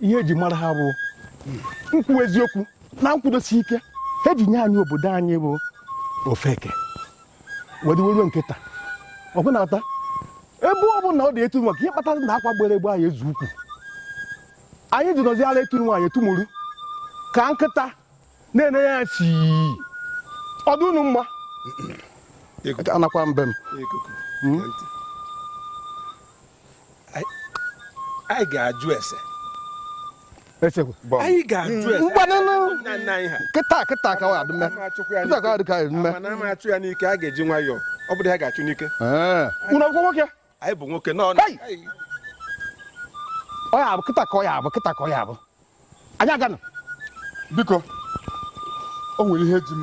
ihe eji mara ha bụ ikwu eziokwu na nkwudosi ike ha ji nye anyị obodo anyị bụ ofeke wee dịwe ruo nke taa ọgụ na-ata ebe ọ bụla ọ dị etu maka ihe kpatara na akwa gbere egbe anyị eze ukwu anyị ji nọzi ara etu nwaanyị etumuru ka nkịta na-ene ya si ọdụ unu mma anakwa mbe m anyị ga-ajụ ese anyị ga-ajụ ese kịta kịta ka ọ ga-adị mma kịta ka ọ dị ka anyị mee mana a ma achụ ya n'ike a ga-eji nwayọọ ọ bụrụ ya ga-achụ n'ike unu akwụkwọ nwoke anyị bụ nwoke nọ ọ ya abụ kịta ka ọ ya abụ kịta ka ọ ya abụ anyị aganụ biko o nwere ihe ji m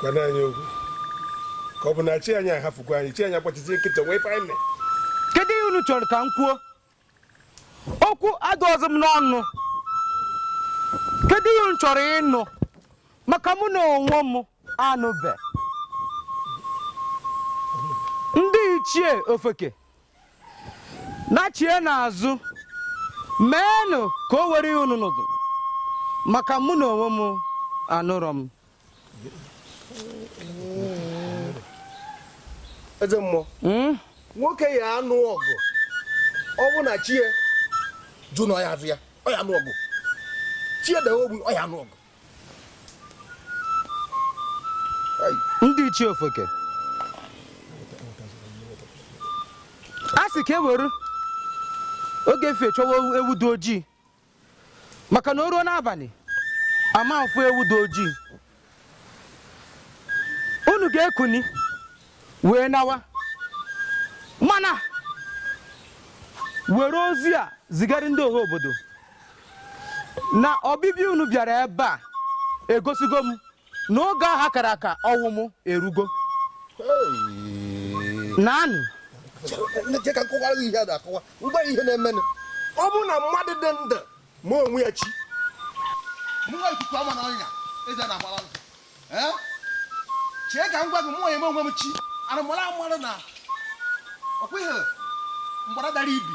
gwara anyị okwu ka ọ bụ na chi anyị ahafụkwa anyị chi anyị agbachizi nkịtị wee ife anyị kedu ihe unu chọrọ ka m kwuo okwu adịrọzị m n'ọnụ kedu ihe unu chọrọ ịnụ maka mụ na onwe m anụbe ndị ichie ofeke nachie n'azụ meenụ ka o nwere ihe unu nụrụ maka mụ na onwe m anụrọ m eze mmụọ Hmm? nwoke ya anụ ọgụ ọ bụ na chi ya jụ na ọ ya aza ya ọ ya anụ ọgụ chi ya dawe ogbu ọ ya anụ ọgụ ndị ichie ofeke a sị ka e were oge efe chọwa ewu dị ojii maka na o ruo n'abanị a ma afụ ewu dị ojii unu ga-ekuni wee nawa mana were ozi a zigara ndị ọha obodo na ọbịbịa unu bịara ebe a egosigo m na oge aha kara aka ọnwụ m erugo naanị ọ bụrụ na mmadụ dị ndụ ma onwe ya chi chee ka m gwa gị mụ onye m onwe m chi arụmara mmadụ na ọkwa ihe mgbada dara ibi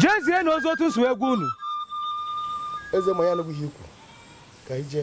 jezienụ ozi otu m si wee gwa unu eze ma ya anụghị ihe i kwu ka ije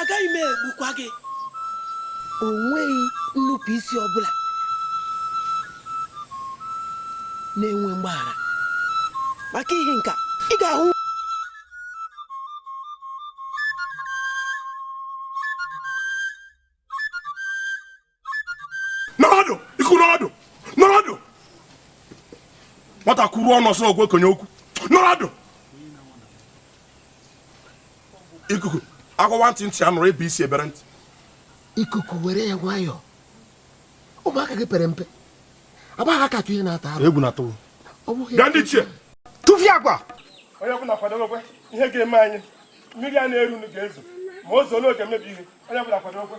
agaghị m egbukwa gị o nweghị nnupụ isi ọbụla na-enwe mgbaghara maka ihi nka ị ga-ahụ n'ọdụ iku nọdụ n'udo nwata kwuru ọnụ ọsọ ogwe konye okwu n'udo ikuku a gwawa ntị ntị anụrụ e bee isi e bere ntị ikuku were nwayọọ ụmụaka gị pere mpe abaghị aka ihe na-ata arụ egwu na-atụ gaa ndị ichie tụfie agwa onye ọbụla kwadobekwe ihe ga-eme anyị mmiri a na-eru ga-ezo ma o zoo ọ ga-emebi ihe onye ọbụla kwadobekwe